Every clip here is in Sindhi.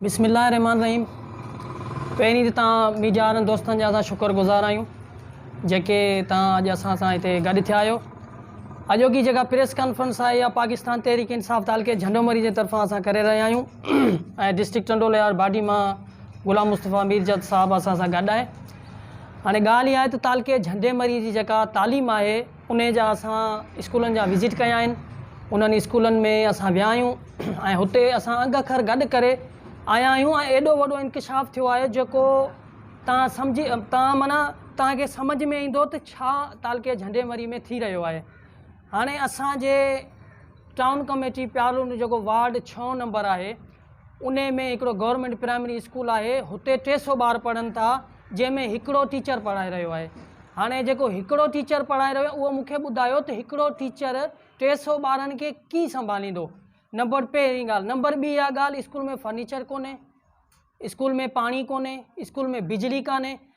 بسم الله الرحمٰن الرحيم پهرين ته توهان ميڊياوارن دوستن جا اسان شڪر گذار آهيون جيڪي توهان اڄ اسان سان هتي گڏ ٿيا آهيو اڄوڪي جيڪا پريس ڪانفرنس آهي اها پاڪستان تحريڪ انصاف تعلقي جهنڊومري جي طرفان اسان ڪري رهيا آهيون ۽ ڊسٽرڪٽ ٽنڊو لهار باڊي مان غلام مصطفيٰ ميرجت صاحب اسان سان گڏ آهي هاڻي ڳالهه اها آهي ته تعلقي جهنڊيمري جي جيڪا تعليم آهي انهي جا اسان اسڪولن جا وزٽ ڪيا آهن انهن اسڪولن ۾ اسان ويا آهيون ۽ هتي اسان انگ اکر گڏ ڪري آيا آهيون ۽ ايڏو وڏو انڪشاف ٿيو آهي جيڪو تان سمجهي تان معنيٰ تان کي سمجهه ۾ ايندو ته ڇا تعلقي جهنڊي مري ۾ ٿي رهيو آهي هاڻي اسان جي ٽائون ڪميٽي پيارلو جيڪو وارڊ ڇهون نمبر آهي انهي ۾ هڪڙو گورنمينٽ پرائمري اسڪول آهي هتي ٽي سو ٻار پڙهن ٿا جنهن ۾ هڪڙو ٽيچر پڙهائي رهيو آهي هاڻي جيڪو هڪڙو ٽيچر پڙهائي رهيو اهو مونکي ٻڌايو ته هڪڙو ٽيچر ٽي سو ٻارن کي ڪي سنڀاليندو نمبر پهرين ڳالهه نمبر ٻي اها ڳالهه اسڪول ۾ فرنيچر ڪونهي اسڪول ۾ پاڻي ڪونهي اسڪول ۾ بجلي ڪانهي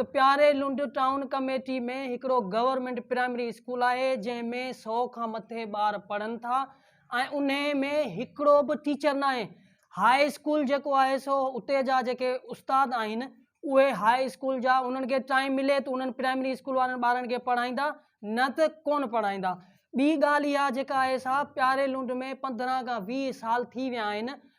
ته پياري لنڊ ٽائون ڪميٽي ۾ هڪڙو گورنمينٽ پرائمري اسڪول آهي جنهن ۾ سو کان مٿي ٻار پڙهن ٿا ۽ انهي ۾ هڪڙو به ٽيچر ناهي هاء اسڪول جيڪو آهي سو اتي جا جيڪي استاد آهن اهي هاء اسڪول جا انهن کي ٽائيم ملي ته انهن پرائمري اسڪول وارن ٻارن کي پڙهائيندا نه ته ڪونه پڙهائيندا ٻي ڳالهه اها جيڪا آهي سا پياري لنڊ ۾ پندرهن کان ويهه سال ٿي ويا آهن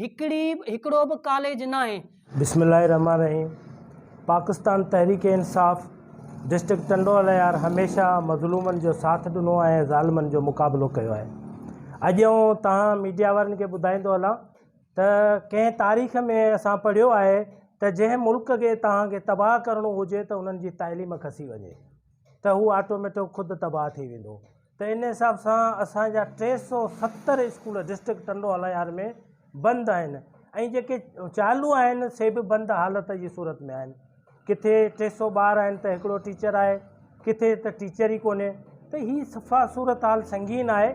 هڪڙي هڪڙو به ڪاليج ناهي. بسم الله الرحمٰن الرحيم پاڪستان تحريڪ انصاف ڊسٽرڪٽ ٽنڊو الهيار هميشه مظلومن جو ساٿ ڏنو آهي ۽ ظالمن جو مقابلو ڪيو آهي اڄ آئون تهان ميڊيا وارن کي ٻڌائيندو هلان ته ڪنهن تاريخ ۾ اسان پڙهيو آهي ته جنهن ملڪ کي تهان کي تباهه ڪرڻو هجي ته انهن جي تعليم کسي وڃي ته هو آٽوميٽڪ خود تباهه ٿي ويندو ته ان حساب سان اسان جا ٽي سؤ ستر اسڪول ڊسٽرڪٽ ٽنڊو الهيار ۾ بند آهن ۽ جيڪي چالو آهن سي به بند حالت جي صورت ۾ آهن ڪٿي ٽي سؤ ٻار آهن ته هڪڙو ٽيچر آهي ڪٿي ته ٽيچر ئي ڪونهي ته هي صفا صورت حال سنگين آهي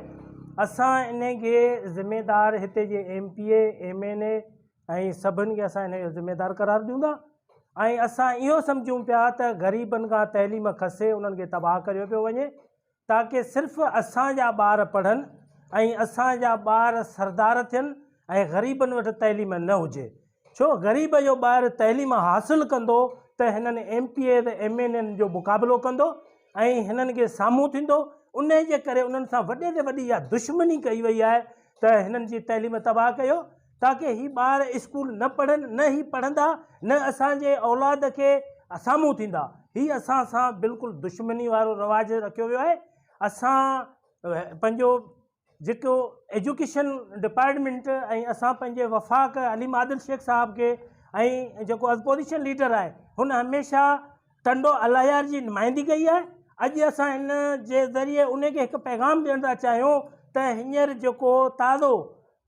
اسان ان کي ذميدار هتي جي M P A M N A ۽ سڀن کي اسان ان جو ذميدار قرار ڏيون ٿا ۽ اسان اهو سمجهون پيا ته غريبن کان تعليم کسي انهن کي تباهه ڪريو پيو وڃي تاڪه صرف اسان جا ٻار پڙهن ۽ اسان جا ٻار سردار ٿين ۽ غريبن وٽ تعليم نه هجي ڇو غريب جو ٻار تعليم حاصل ڪندو ته هنن M P As M N N جو مقابلو ڪندو ۽ هنن کي سامهون ٿيندو ان جي ڪري انهن سان وڏي تي وڏي اها دشمني ڪئي وئي آهي ته هنن جي تعليم تباهه ڪيو تاڪه هي ٻار اسڪول نه پڙهن نه هي پڙهندا نه اسان جي اولاد کي سامهون ٿيندا هي اسان سان بلڪل دشمني وارو رواج رکيو ويو آهي اسان پنهنجو جيڪو ايجوڪيشن ڊپارٽمينٽ ۽ اسان پنهنجي وفاق عليم عادل شيخ صاحب کي ۽ جيڪو اپوزيشن ليڊر آهي هن هميشه ٽنڊو الاهيار جي نمائندي ڪئي آهي اڄ اسان هن جي ذريعي ان کي هڪ پيغام ڏيڻ ٿا چاهيون ته هينئر جيڪو تازو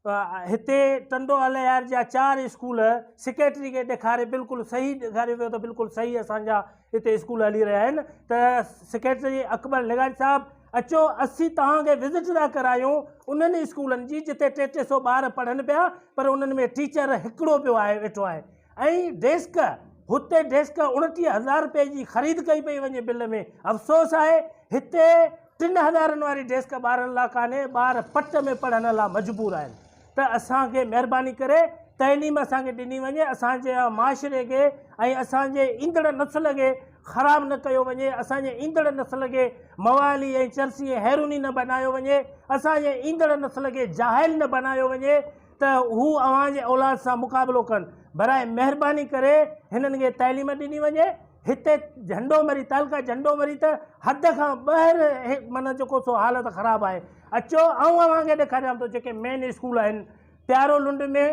هتي ٽنڊو الهيار جا چار اسڪول سيڪريٽري کي ڏيکاري بلڪل صحيح ڏيکاريو ويو ته بلڪل صحيح اسان جا هتي اسڪول هلي رهيا آهن ته سيڪريٽري اڪبر لغاري صاحب اچو اسين توهان کي وزٽ ٿا ڪرايون انهن اسڪولن جي جتي ٽي ٽي سو ٻار پڙهن پيا پر انهن ۾ ٽيچر هڪڙو پيو آهي ويٺو آهي ۽ ڊيسڪ، هتي ڊيسڪ اڻٽيهه هزار رپئي جي خريد ڪئي پئي وڃي بل ۾ افسوس آهي هتي ٽن هزارن واري ڊيسڪ ٻارن لا ڪانهي ٻار پٽ ۾ پڙهڻ لا مجبور آهن ته اسان کي مهرباني ڪري تعليم اسان کي ڏني وڃي اسان جي معاشري کي ۽ اسان جي ايندڙ نسل کي خراب نه ڪيو وڃي اسان جي ايندڙ نسل کي موالي ۽ چرسي ۽ هيروني نه بنايو وڃي اسان جي ايندڙ نسل کي جاهل نه بنايو وڃي ته هو اوهان جي اولاد سان مقابلو ڪن. براء مهرباني ڪري هنن کي تعليم ڏني وڃي. هتي جهنڊو مري تعلقه جهنڊو مري ته حد کان ٻهر معنيٰ جيڪو سو حالت خراب آهي. اچو آئون اوهان کي ڏيکاريان ٿو جيڪي مين اسڪول آهن پيارو لنڊ ۾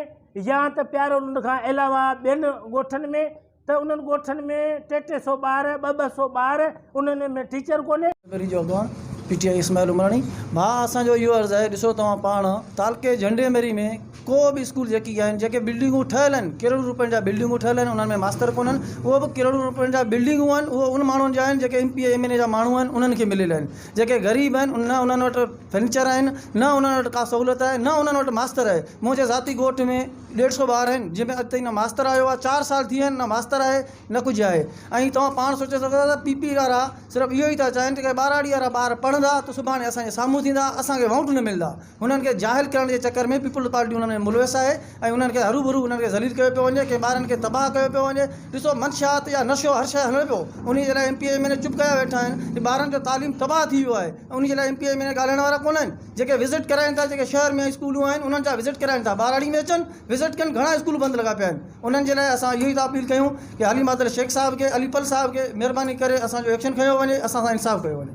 يا ته پيارو لنڊ کان علاوه ٻين ڳوٺن ۾. ته انهن ڳوٺن ۾ ٽي ٽي سئو ٻار ٻه ٻه سئو ٻار انهن ۾ ٽيچر ڪونهي. لائبريري جو اڳواڻ P T I Ismail Umrani, ڀاء اسان جو اهو عرض آهي ڏسو توهان پاڻ تعلقي جهنڊي مري ۾ ڪو به اسڪول جيڪي آهن جيڪي بلڊنگون ٺهيل آهن ڪروڙين روپين جا بلڊنگون ٺهيل آهن انهن ۾ ماستر ڪونهن اهو به ڪروڙين روپين جا بلڊنگون آهن اهو ان ماڻهن جا آهن جيڪي M P A M N A جا ماڻهو آهن انهن کي مليل آهن جيڪي غريب آهن نه انهن وٽ فرنيچر آهن نه انهن وٽ ڪا سهولت آهي نه انهن وٽ ماستر آهي منهنجي ذاتي ڳوٺ ۾ ڏيڍ سؤ ٻار آهن جنهن ۾ اڄ تائين نه ماستر آيو آهي چار سال ٿي ويا آهن نه ماستر آهي نه ڪجهه آهي ۽ توهان پاڻ سوچي سگهو ٿا ته پي پي وارا صرف اهو ئي ٿا چاهين ته ٻهراڙي وارا ٻار پڙهندا ته سڀاڻي اسانجي سامهون ٿيندا اسانکي ووٽ نه ملندا هنن کي جاهل ڪرڻ جي چڪر ۾ پيپلز پارٽي انهن ۾ ملوث آهي ۽ انهن کي هروڀرو انهن کي ذليل ڪيو پيو وڃي ڪي ٻارن کي تباهه ڪيو پيو وڃي ڏسو منشيات يا نشو هر شيء هلڻ پيو انهي جي لاء M P M N A چپ ڪيا ويٺا آهن ٻارن جو تعليم تباهه ٿي ويو آهي انهي جي لاء M P M N A ڳالهائڻ وارا ڪونه آهن. جيڪي وزٽ ڪرائين ٿا جيڪي شهر ۾ اسڪولون آهن انهن جا وزٽ ڪرائين ٿا ٻهراڙي ۾ اچن وزٽ ڪن گهڻا اسڪول بند لڳا پيا آهن انهن جي لاء اسان اهو ئي ٿا اپيل ڪيون ڪي علي مادر شيخ صاحب کي علي پل صاحب کي مهرباني ڪري اسان جو ايڪشن کنيو وڃي اسان سان انصاف ڪيو وڃي.